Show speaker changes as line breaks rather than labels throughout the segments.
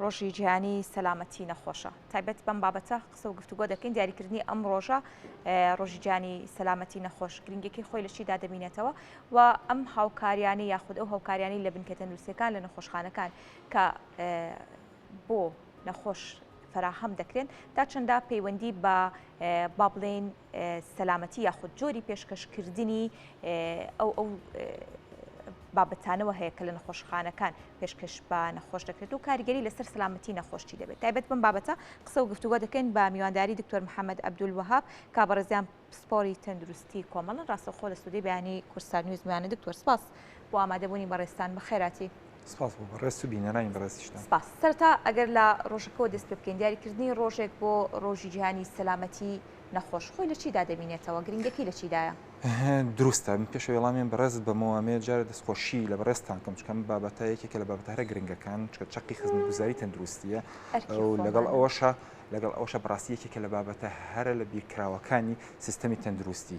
ڕۆژی جیهانی سەلامەتی نەخۆشە تایبەت بەم بابەتە قسە و گفتوگۆ دەکەین دیاریکردنی ئەم ڕۆژە ڕۆژی جیهانی سەلامەتی نەخۆش گرنگێکی خۆی لە چیدا دەبینێتەوە و ئەم هاوکاریانی یاخود ئەو هاوکاریانی لە بنکە تەندروستەکان لە نەخۆشخانەکان کە بۆ نەخۆش فراهەم دەکرێن تا چەندە پەیوەندی بە با بڵێن سەلامەتی یاخود جۆری پێشکەشکردنی ئەو ئەو بابەتانەوە هەیە کە لە نەخۆشخانەکان پێشکەش بە نەخۆش دەکرێت و کاریگەری لەسەر سلامەتی نەخۆشی دەبێت تایبەت بم بابەتە قسە و گفتوگۆ دەکەین بە میوانداری دکتۆر محەممەد عبدول وهاب کابڕێزیان پسپۆری تەندروستی کۆمەڵن ڕاستەخۆ لە سودی بەیانی کورسار نیوزمیانە دکتۆر سپاس بۆ ئامادەبوونی بەڕێستان بە خێراتی سپاس بۆ بەڕێزت
و بینەرانی بەڕێزیشتان. سپاس. سەرەتا ئەگەر
لە ڕۆژەکەوە دەست پێ بکەین، دیاریکردنی ڕۆژێک بۆ ڕۆژی جیهانی سەلامەتی نەخۆش، خۆی لە چیدا دەبینێتەوە؟ گرنگییەکەی لە چیدایە؟ دروستە.
من پێش ئەوەی وەڵامی بەڕێزت بەمەوە، ئەمەوێت جارێ دەستخۆشی لە بەڕێزتان بکەم، چونکە ئەم بابەتە یەکێکە لە بابەتە هەرە گرنگەکان، چونکە چەقی خزمەتگوزاریی تەندروستییە و لەگەڵ ئەوەشا لەگەڵ ئەوەشا بەڕاستی یەکێکە لە بابەتە هەرە لەبیرکراوەکانی سیستەمی تەندروستی.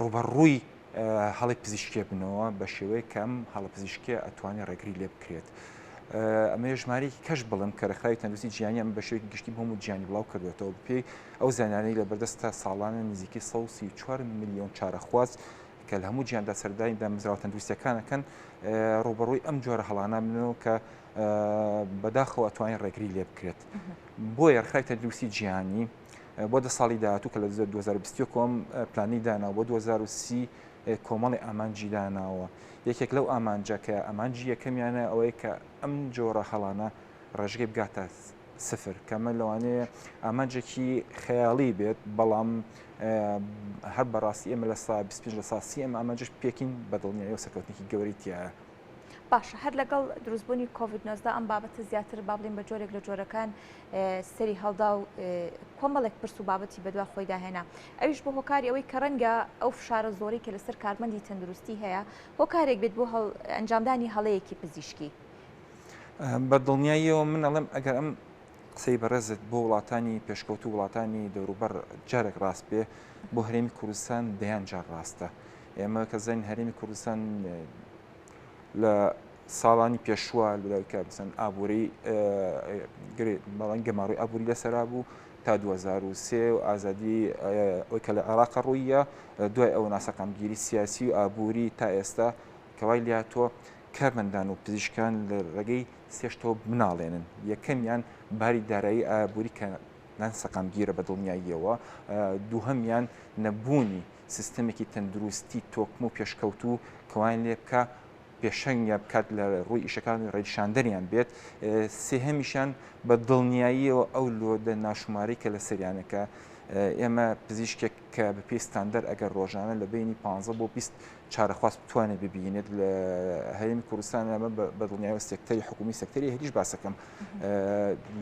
ڕووبەڕووی هەڵی پزیشکێ بنەوە بە شێوەیە کە ئەم هەڵە پزیشکێ ئەتوانێت ڕێگری لێ بکرێت. ئەمە ژمارەیەکی کەش بڵم کە رخراوی تەندوسی جیانی ئەم بەشێک گشتی بۆم و جیانی بڵاو کردوێتەوە بپێی ئەو زانانەی لە بەردەستە ساڵانە نزیکی 4 میلیۆن چارەخواز کە لە هەموو جیاندا سەردانی دامزراوە تەندوستەکانەکەن ڕوبەڕووی ئەم جۆرە هەڵانە منەوە کە بەداخەوە توانین ڕێگری لێ بکرێت بۆ یەرخای تەندوسی جیهانی بۆ دە ساڵی داهاتوو کە لە 2020 کۆم پلانی دانا بۆ 2030 کۆمەڵی ئامانجی داناوە یەکێک لەو ئامانجە کە ئامانجی یەکەمیانە ئەوەیە کە ئەم جۆرە هەڵانە ڕێژگەی بگاتە سفر کەمە لەوانەیە ئامانجێکی خەیاڵی بێت بەڵام هەر بەڕاستی ئێمە لە سا 25 لە ساسی ئەم ئامانجش پێکین بەدڵنیایەوە سەکەوتنێکی گەوریتیایە باشە هەر
لەگەڵ دروستبوونی کۆڤید نۆزدە ئەم بابەتە زیاتر با بڵین بە جۆرێک لە جۆرەکان سەری هەڵدا و کۆمەڵێک پرس و بابەتی بەدوا خۆی داهێنا ئەوش بۆ هۆکاری ئەوەی کە ڕەنگە ئەو فشارە زۆری کە لەسەر کارمەندی تەندروستی هەیە هۆکارێک بێت بۆ ئەنجامدانی هەڵەیەکی پزیشکی بە دڵنیاییەوە
من ئەڵێم ئەگەر ئەم قسەی بەڕێزت بۆ وڵاتانی پێشکەوت و وڵاتانی دەوروبەر جارێک ڕاست بێ بۆ هەرێمی کوردستان دەیان جار ڕاستە. ئێمە کە زانین هەرێمی کوردستان لە ساڵانی پێشوە لەلایکە بسن ئابووری بەڵەن گەماڕی ئابووری لەسرا بوو تا 2023 و ئازادی ئەوی کە لە عێراق ڕوویە دوای ئەو ناسەقامگیری سیاسی و ئابووری تا ئێستا کەوای لاتۆ کارمەندان و پزیشکان لە ڕێگەی سێشتەوە مناڵێنن یەکەمیان باری دارایی ئابووری کە نان سەقامگیرە بە دڵنیاییەوە دووهمیان نەبوونی سیستەمێکی تەندروستی تۆکمە و پێشکەوتوو کە وایان لێ بکا پێشەنگیان بکات لە ڕووی ئیشەکان و ڕێنیشاندەریان بێت سێهەمیشیان بە دڵنیاییەوە ئەو لۆدە ناشمارەی کە لە سەریانە کە ئێمە پزیشکێک کە بە پێی ستاندەر ئەگەر ڕۆژانە لە بینی 15 بۆ 20 چارەخواست بتوانێت ببینێت لە هەرێمی کوردستان ئەمە بە دڵنیایەوە سێکتەری حکومی سەکتەری هەریش باسەکەم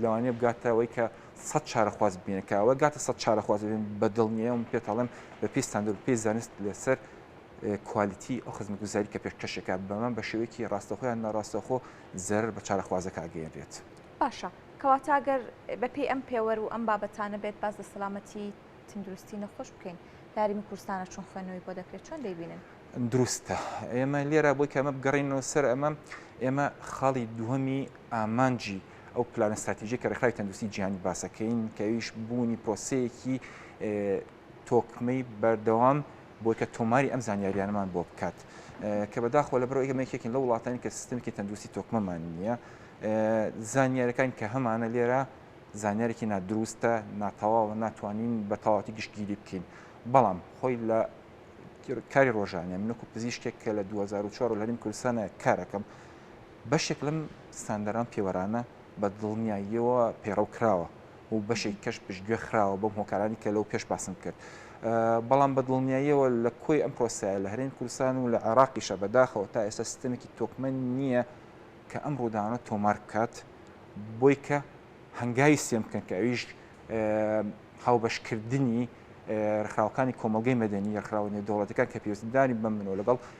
لەوانێ بگاتەوەی کە سەد چارەخواز ببینن کە ئەوە گاتە سەد چارەخواز ببین بە دڵنیە و پێ تاڵێم بە پێی ستاندرد پێی زانست لەسەر کوالیتی ئەو خزمگوزاری کە پێشکەشەکە بەمە بە شێوەیەکی ڕاستەخۆیان ناڕاستەخۆ زەرر بە چارەخوازەکە ئەگەێنرێت باشە
کەواتە گەر بەپی ئەم پێوەر و ئەم بابەتانە بێت باز لە سەلامەتی تندروستی نەخۆش بکەین لاری کوردستانە چون خوێنەوەی بۆ دەکرێت چۆن دەیبینن دروستە
ئێمە لێرە بۆی کەمە بگەڕینەوە سەر ئەمە ئێمە خاڵی دووەمی ئامانجی ئەو پلانە ستراتیژی کە ڕێکخراوی تەندروستی جیهانی باسەکەین کە ئەویش بوونی پرۆسەیەکی تۆکمەی بەردەوام بۆی کە تۆماری ئەم زانیاریانمان بۆ بکات کە بەداخۆ لە بەرەوە ئێمەێکێکین لە وڵاتانی کە سیستمکی تەندروستی تۆکمەمان نییە زانیارەکان کە هەمانە لێرە زانیارێکی نادروستە ناتەواوە ناتوانین بە تەواتی گشتگیری بکەین بەڵام خۆی لە کاری ڕۆژانە منکو پزیشتێک کە لە 2004 لەریم کوردستانە کارەکەم بەشێک لەم ستاندەرە و پێوەرانە بە دڵنیاییەوە پەیڕەو کراوە و بەشێکی کەش پشتگوێ خراوە بەو هۆکارانەی کە لەو پێش باسم کرد. بەڵام بە دڵنیاییەوە لە کۆی ئەم پرۆسەیە لە هەرێمی کوردستان و لە عێراقیشە بەداخەوە تا ئێستا سیستەمێکی تۆکمە نییە کە ئەم ڕووداوانە تۆمار بکات بۆی کە هەنگاوی سێم بکەن کە ئەویش هاوبەشکردنی ڕێکخراوەکانی کۆمەڵگەی مەدەنی ڕێکخراوە نێودەوڵەتەکان کە پێویستداری بەم منەوە لەگەڵ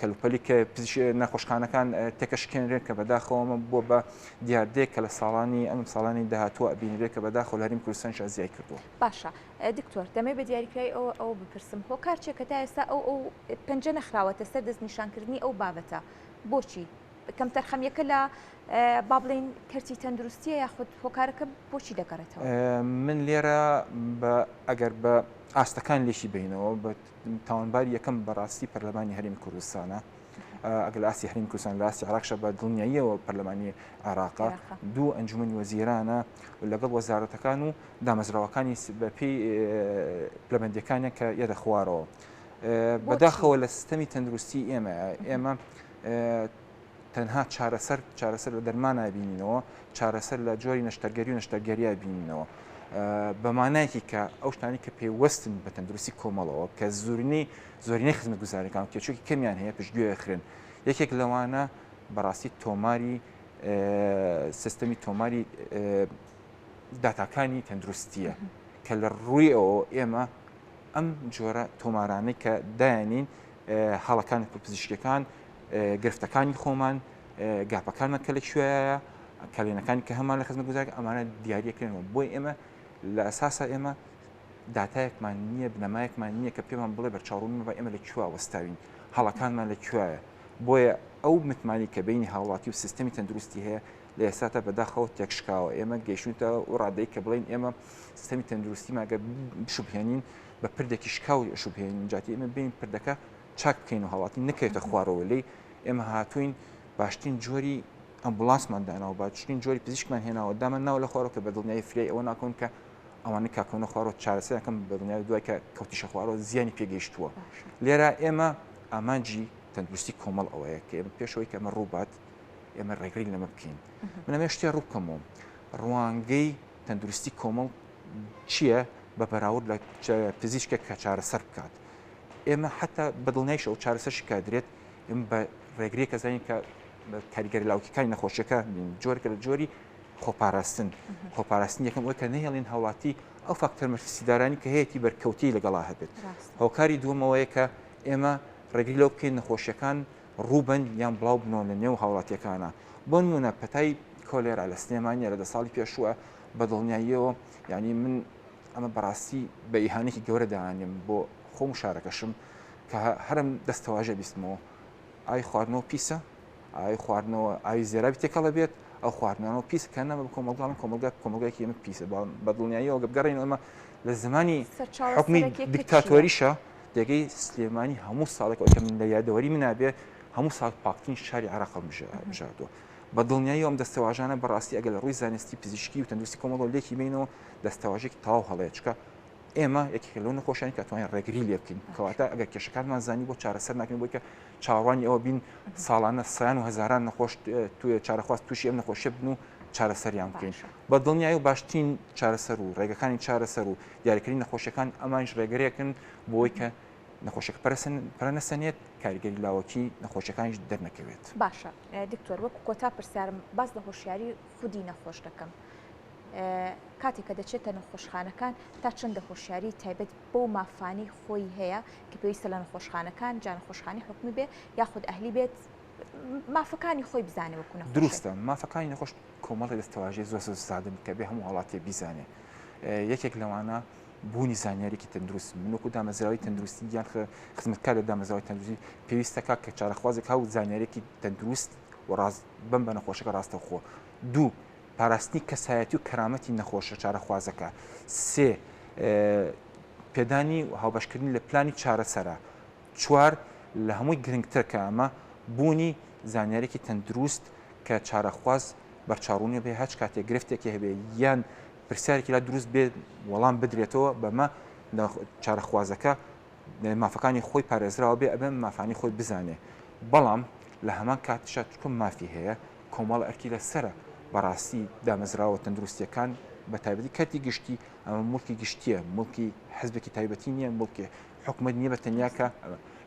کەلوپەلی کە نەخۆشخانەکان تێکەشکێنرێن کە بەداخەوەمە بووە بە دیاردەیە کە لە ساڵانی ئەم ساڵانی داهاتوە ئەبینرێ کە بەداخۆ لەریم کوردستان شازیای کردووە باشە دکتۆر
دەمێ بە دیاریکرای ئەوە ئەو بپرسم هۆکار چێ کە تا ئێستا ئەو ئەو پنج نەخراوەتە سەر دەست نیشانکردنی ئەو بابەتە بۆچی کەم تەرخەمیەکە لە با بڵین کەرتی تەندروستیە یاخود هۆکارەکە بۆچی دەگەڕێتەوە من لێرە
ئەگەر بە ئاستەکان لێکی بینەوە بە تاوانباری یەکەم بەڕاستی پەرلەمانی هەرمی کوردستانە ئەگەر لە ئاستی هەرمی کوردستان لە ئاستی عراقشە بە دڵنیاییەوە پەرلەمانی عێراقا دوو ئەنجومی وەزیرانە لەگەڵ وەزارەتەکان و دامەزراوەکانی بەپی پلەبندەکانە کە یەدە خوارەوە بەداخەوە لە سیستەمی تەندروستی ئێمە ئێمە تەنها چارەسەر چارەسەر لە دەرمانای بینینەوە چارەسەر لە جۆری نەشتەرگەری و نەشتەرگەریای بینینەوە بە مانایەکی کە ئەو شتانی کە پێوەستن بە تەندروستی کۆمەڵەوە کە زورنی زۆرینەی خزمەت گوزارەکان کێچوکی کەمیان هەیە پشتگوێ خوێن یەکێک لەوانە بەڕاستی تۆماری سیستەمی تۆماری داتاکانی تەندروستیە کە لە ڕووی ئەوە ئێمە ئەم جۆرە تۆمارانەی کە داێنین هەڵەکانی پزیشکەکان گرفتەکانی خۆمان گاپەکانمان کە لە کوێیە کەلێنەکانی کە هەمان لە خزمە گوزار ئەمانە دیارەکەێنەوە بۆی ئێمە لە ئەساسا ئێمە داتایەکمان نییە بنەمایەکمان نییە کە پێمان بڵێ بە چاڕون بە ئێمە لە کوێ وەستاوین هەڵەکانمان لە کوێە بۆیە ئەو متمانی کە بینی هاوڵاتی و سیستمی تەندروستی هەیە لە ئێساتە بەداخەوە تێکشکاوە ئێمە گەیشتە و ڕادەی کە بڵین ئێمە سیستمی تەندروستی ماگە بشوبهێنین بە پردێکی شکاو شوبهێنین جاتی ئێمە بین پردەکە چاک بکەین و هاوڵاتی نەکەوێتە خوارەوە لێی ئێمە هاتوین باشترین جۆری ئەمبولانسمان داناوە باشترین جۆری پزیشکمان هێناوە دامان ناوە لە خوارەوە کە بە دڵنیایی فریای ئەوە ناکەون کە ئەوانە کاکەونە خوارەوە چارەسەرەکەم بە دڵنیایی دوای کە کەوتیشە خوارەوە زیانی پێگەیشتووە لێرە ئێمە ئامانجی تەندروستی کۆمەڵ ئەوەیە کە ئێمە پێشەوەی کەمە ڕووبات ئێمە ڕێگری لەمە بکەین من ئەمێ شتێ ڕووکەمەوە ڕوانگەی تەندروستی کۆمەڵ چییە بە بەراورد لە پزیشکێک کە چارەسەر بکات ئێمە حتا بەدڵنیایش ئەو چارەسەر شکدرێت ئم بە ڕێگری کەزانین کە کاریگەری لاوکەکانی نەخۆشیەکە جۆرکە لە جۆری خۆپاراستن خۆپاراستن یەکەم ئەوکە نەهێڵین هاوڵاتی ئەو فاکتەر مەرفسیدارانی کە هەیەی بەرکەوتی لەگەڵا هەبێت هۆکاری دووەمەوەیە کە ئێمە ڕێگری لەو بکەین نەخۆشیەکان ڕووبن یان بڵاو بنەوە لە نێو هاوڵاتیەکانە بۆ نمونە پەتای کۆلێرا لە سلێمانە لە دە ساڵی پێشووە بە دڵنیاییەوە ینی من ئەمە بەڕاستی بە ئیهانێکی گەورە دانێم بۆ خۆم و شارەکەشم کە هەرم دەستەواژە بیستمەوە ئای خواردنەوە پیسە ئای خواردنەوە ئاوی زێرابی تێکەڵە بێت ئەو خواردنەوە پیس کە نەمە کۆمەڵگان کۆمەلگا کۆمەلگایکی ئەمە پیسە بەڵام بەدڵنیاییەوە گەبگەڕین ئەمە لە زمانی حکومی دیکتاتۆریشە دەگەی سلێمانی هەموو ساڵێکەوە کە من لە یادەوەری منابێ هەموو ساڵ پاکترین شاری عراقم بژاردووە بە دڵنیایی ئەم دەستەواژانە بەڕاستی ئەگەر لە ڕووی زانستی پزیشکی و تەندروستی کۆمەڵۆ لێکی بینەوە دەستەواژێکی تەواو هەڵەیە چکە ئێمە یەکێک لەو نەخۆشیان کە توانین ڕێگری لێ بکەین کەواتە ئەگەر کێشەکانمان زانی بۆ چارەسەر ناکەین بۆی کە چاوانی ئەوە بین ساڵانە سیان و هزاران نەخۆش توێ چارەخواست تووشی ئەم نەخۆشە بن و چارەسەریان بکەین بە دڵنیایی و باشترین چارەسەر و ڕێگەکانی چارەسەر و دیارکردنی نەخۆشیەکان ئەمانش ڕێگەرێکن بۆی کە نەخۆشێک پرسن پرەنەسەنێت کاریگەری لاوەکی نەخۆشەکانیش دەرنەکەوێت باشە
دکتۆر وەکو کۆتا پرسیارم باز لە هۆشیاری خودی نەخۆش دەکەم کاتێک کە دەچێتە نەخۆشخانەکان تا چەندە هۆشیاری تایبەت بۆ مافانی خۆی هەیە کە پێویستە لە نەخۆشخانەکان جان خۆشخانی حکومی بێ یاخود ئەهلی بێت مافەکانی خۆی بزانەوە کوە دروستە مافەکانی نەخۆش
کۆمەڵی دەستەواژی زۆر سادن کە بێ هەموو وڵاتێ بیزانێ یەکێک لەوانە بوونی زانیاریکی تەندروست منوکو دامەزراوی تەندروستی یان خزمەتکار لە دامەزراوی تەندروستی پێویستەکە کە چارەخوازێک هاو زانیارێکی تەندروست و ڕاست بەم بە نەخۆشەکە ڕاستەوخۆ دوو پاراستنی کەسایەتی و کەرامەتی نەخۆشە چارەخوازەکە سێ پێدانی هاوبەشکردنی لە پلانی چارەسەرە چوار لە هەمووی گرنگتر کە ئەمە بوونی زانیارێکی تەندروست کە چارەخواز بەرچاڕوونی بێ هەچ کاتێک گرفتێکی هەبێ یان پرسیارێکی لا دروست بێت وەڵام بدرێتەوە بەمە چارەخوازەکە مافەکانی خۆی پارێزراوە بێ ئەبێ مافانی خۆی بزانێ بەڵام لە هەمان کاتشا تکم مافی هەیە کۆمەڵ ئەرکی لە سرە بەڕاستی دامەزراوە تەندروستیەکان بە تایبەتی کەرتی گشتی ئەمە ملکی گشتیە ملکی حزبێکی تایبەتی نییە ملکی حکومت نییە بە تەنیاکە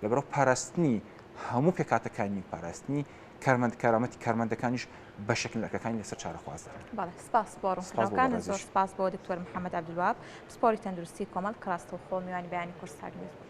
لەبەرەوە پاراستنی هەموو پێکاتەکانی پاراستنی کارمەند کارامەتی کارمەندەکانیش بەشێک لە ئەرکەکانی لەسەر چارەخواز دەکەن. بەڵێ سپاس بۆ
ڕوونکردنەوەکانت، زۆر سپاس بۆ دکتۆر محەممەد عەبدولوەهاب، پسپۆڕی تەندروستی کۆمەڵ کە ڕاستەوخۆ میوانی بەیانی کورسات نیوز بوون.